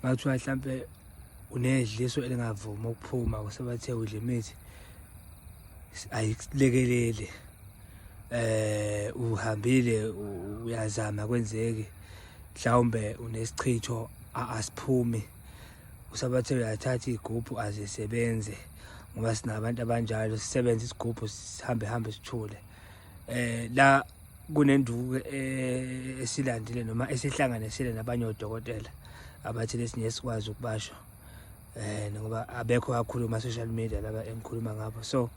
Ngathiwa mhlampe unedliso elingavumi ukuphuma kusebathe udle imithi ayikulekeleli eh uhambile uyazama kwenzeki mhlawumbe unesichitho asiphumi usabathe uyathatha igubhu azisebenze ngoba sinabantu abanjalo sisebenze isigubhu sihambe hambe sithule eh la kunenduku eh, esilandile noma esihlanganisile nabanye odokotela abathi lesinye sikwazi ukubasho eh ngoba abekho kakhulu ma social media laba engikhuluma ngabo so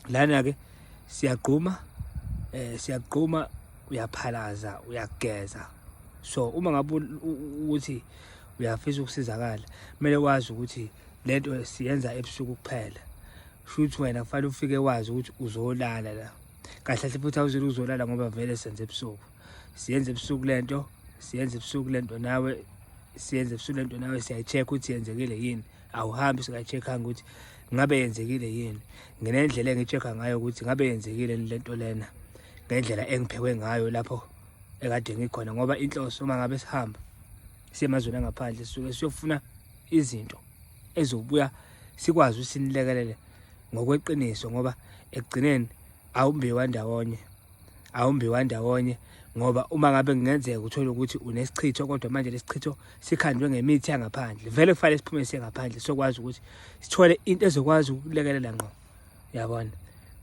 lana ke siyagquma eh siyagquma uyaphalaza uyageza so uma ngabe ukuthi uyafisa ukusizakala kumele wazi ukuthi lento siyenza ebusuku kuphela shuthi wena kufanele ufike wazi ukuthi uzolala la kahle kahle futhi awuzile uzolala ngoba vele senze ebusuku siyenze ebusuku lento siyenze ebusuku lento nawe siyenze ebusuku lento nawe siyayi-check ukuthi yenzekile yini awuhambi singayi-check-anga ukuthi ngabe yenzekile yini nginendlela engi-check-a ngayo ukuthi ngabe yenzekile yini lento lena ngendlela engiphekwe ngayo lapho ekade ngikhona ngoba inhloso uma ngabe sihamba siye emazweni angaphandle sisuke siyofuna izinto ezobuya sikwazi ukuthi sinilekelele ngokweqiniso ngoba ekugcineni awumbiwa ndawonye awumbiwa ndawonye ngoba uma ngabe kungenzeka uthole ukuthi unesichitho kodwa manje lesichitho sikhandwe ngemithi yangaphandle vele kufanele siphume sengaphandle sokwazi ukuthi sithole into ezokwazi ukulekelela ngqo yabona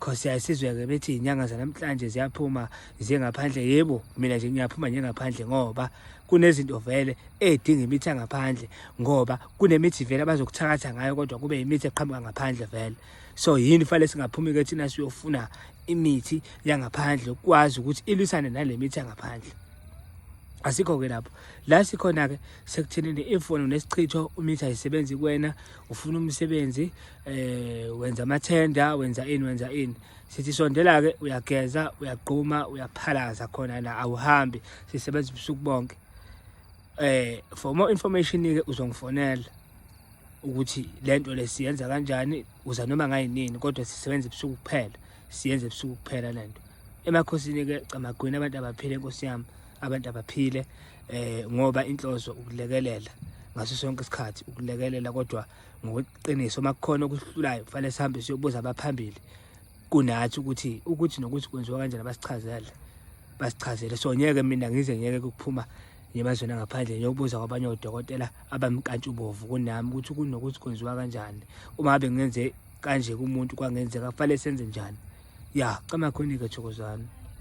cause yayisizwe-ke bethi iy'nyanga zanamhlanje ziyaphuma ziye ngaphandle yebo mina nje ngiyaphuma nje ngaphandle ngoba kunezinto vele edinga imithi angaphandle ngoba kunemithi vele abazokuthakatha ngayo kodwa kube imithi eqhamuka ngaphandle vele so yini fanele singaphumi-ke thina siyofuna imithi yangaphandle ukwazi ukuthi ilwisane nale mithi yangaphandle asikho-ke lapho la sikhona-ke sekuthenini imfono nesichitho umithi ayisebenzi kuwena ufuna umsebenzi eh wenza amathenda wenza ini wenza ini sithi sondela ke uyageza uyagquma uyaphalaza khona la awuhambi sisebenza ubusuku bonke eh for more information ke uzongifonela ukuthi lento lesiyenza kanjani uza noma ngayinini kodwa sisebenza ebusuku kuphela siyenza ebusuku kuphela lento emakhosini ke camagwini abantu abaphile inkosi yami abantu abaphile eh ngoba inhloso ukulekelela ngaso sonke isikhathi ukulekelela kodwa ngokuqiniso uma kukhona okuhlulayo kufanele sihambe siyobuza abaphambili kunathi ukuthi ukuthi nokuthi kwenziwa kanjani abasichazele basichazele so ngeke mina ngize ngeke kuphuma emazweni angaphandle ngiyobuza kwabanye odokotela abamkantshubovu kunami ukuthi kunokuthi kwenziwa kanjani uma ngabe ngenze kanje kumuntu kwangenzeka kufanele senze njani ya cama khonike thokozani